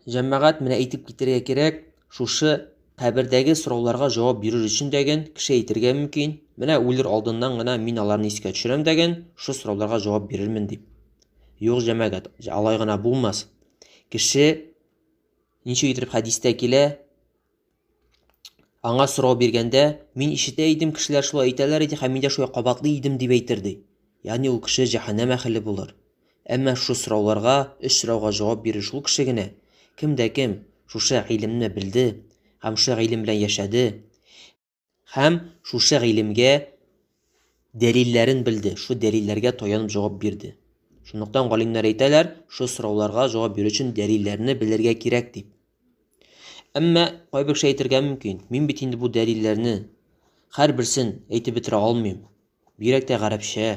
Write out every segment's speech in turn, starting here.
Җәмәгать менә әйтеп китәргә кирәк, шушы кабердәге сорауларга җавап бирер өчен дәген кеше әйтергә мөмкин. Менә үлер алдыннан гына мин аларны искә төшерәм дәген, шушы сорауларга җавап бирермен дип. Юк, җәмәгать, алай гына булмас. Кеше ничек итеп хәдистә килә, Аңа сорау биргәндә, мин ишетә идем, кешеләр шулай әйтәләр иде һәм мин дә шулай кабатлый идем дип әйтер, ди. Ягъни ул кеше җәһәннәм әһеле булыр. Әмма шушы сорауларга, өч сорауга җавап бирер шул кеше генә, кем дә кем шушы гыйлемне белде һәм шушы гыйлем белән яшәде. Һәм шушы гыйлемгә дәлилләрен белде, шу дәлилләргә таянып җавап бирде. Шунлыктан галимнәр әйтәләр, шу сорауларга җавап бирү өчен дәлилләрне белергә кирәк дип. Әмма кайбер кеше әйтергә мөмкин, мин бит инде бу дәлилләрне хәр берсен әйтеп бетерә алмыйм. Бигрәк тә гарәпчә,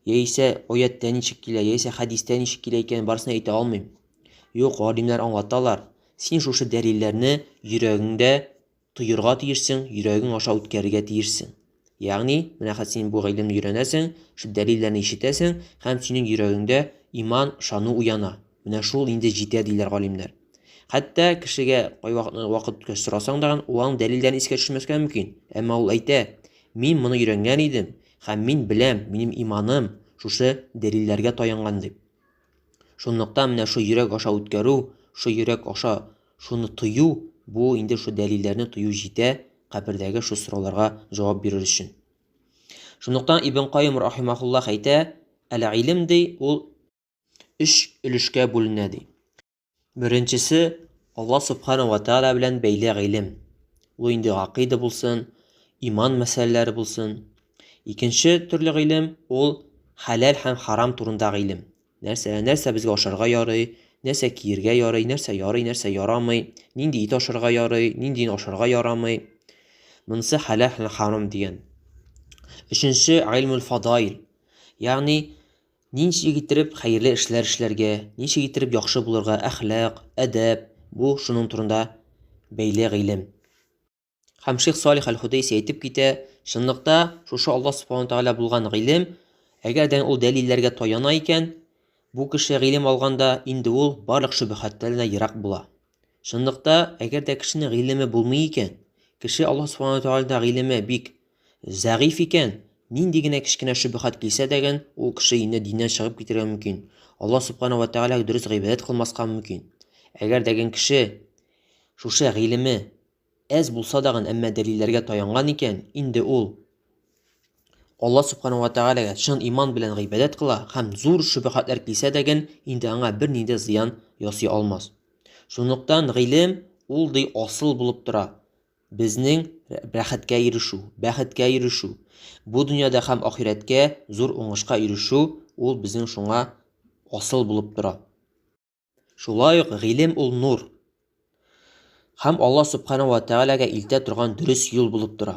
яисә аяттә ничек килә, яисә хәдистә ничек килә икән, барысын әйтә алмыйм. Юк, галимнәр аңлаталар, син шушы дәлилләрне йөрәгеңдә тоерга тиешсең, йөрәгең аша үткәрергә тиешсең. Ягъни, менә хәзер син бу гыйлемне өйрәнәсең, шул дәлилләрне ишетәсең һәм синең йөрәгеңдә иман, ышану уяна. Менә шул инде җитә, диләр галимнәр. Хәтта кешегә кайвакытны вакыт үткәч сорасаң да, ул аның дәлилләрен искә төшермәскә мөмкин. Әмма ул әйтә, мин моны өйрәнгән идем һәм мин беләм, минем иманым шушы дәлилләргә таянган дип. Шунлыктан менә шул йөрәк аша үткәрү, шул йөрәк аша шуны тою, бу инде шул дәлилләрне тою җитә кабердәге шул сорауларга җавап бирер өчен. Шунлыктан Ибн Каим рахимахуллах әйтә, әле илем ди, ул өч өлешкә бүленә ди. Беренчесе, Алла Субхана Ва Тааля белән бәйле гыйлем. Ул инде гакыйда булсын, иман мәсьәләләре булсын. Икенче төрле гыйлем, ул хәләл һәм харам турында гыйлем. Нәрсә, нәрсә безгә ашарга ярый, нәрсә киергә ярый, нәрсә ярый, нәрсә ярамый, нинди ит ашарга ярый, нинди ашарга ярамый. Монысы хәләл һәм харам дигән. Өченче гыйлмул фадаил. Ягъни Ничек иттереп хәерле эшләр эшләргә, ничек иттереп яхшы булырга, әхлак, әдәп, бу шуның турында бәйле гыйлем. Һәм Шейх Салих Аль-Худейси әйтеп китә, чынлыкта шушы Аллаһ Субхану Тәгалә булган гыйлем, әгәр дә ул дәлилләргә таяна икән, бу кеше гыйлем алганда инде ул барлык шөбһәтләрдән ерак була. Чынлыкта, әгәр дә кешенең гыйлеме булмый икән, кеше Аллаһ Субхану Тәгаләдә гыйлеме бик Зәгыйфь икән! Нинди генә кечкенә шөбһәт килсә дәген, ул кеше инде диннән чыгып китәргә мөмкин. Алла Субхана вә Тәгаләгә дөрес гыйбадәт кылмаска мөмкин. Әгәр дәген кеше шушы гыйлеме әз булса дагын, әмма дәлилләргә таянган икән, инде ул Алла Субхана вә Тәгаләгә чын иман белән гыйбадәт кыла һәм зур шөбһәтләр килсә дәген, инде аңа бернинди зыян ясый алмас. Шунлыктан гыйлем ул ди асыл булып тора. Безнең рәхәткә ирешү, бәхеткә ирешү, бу дөньяда һәм ахирәткә зур уңышка ирешү, ул безнең шуңа асыл булып тора. Шулай ук гыйлем ул нур һәм Алла Субхана ва Тәгаләгә илтә торган дөрес юл булып тора.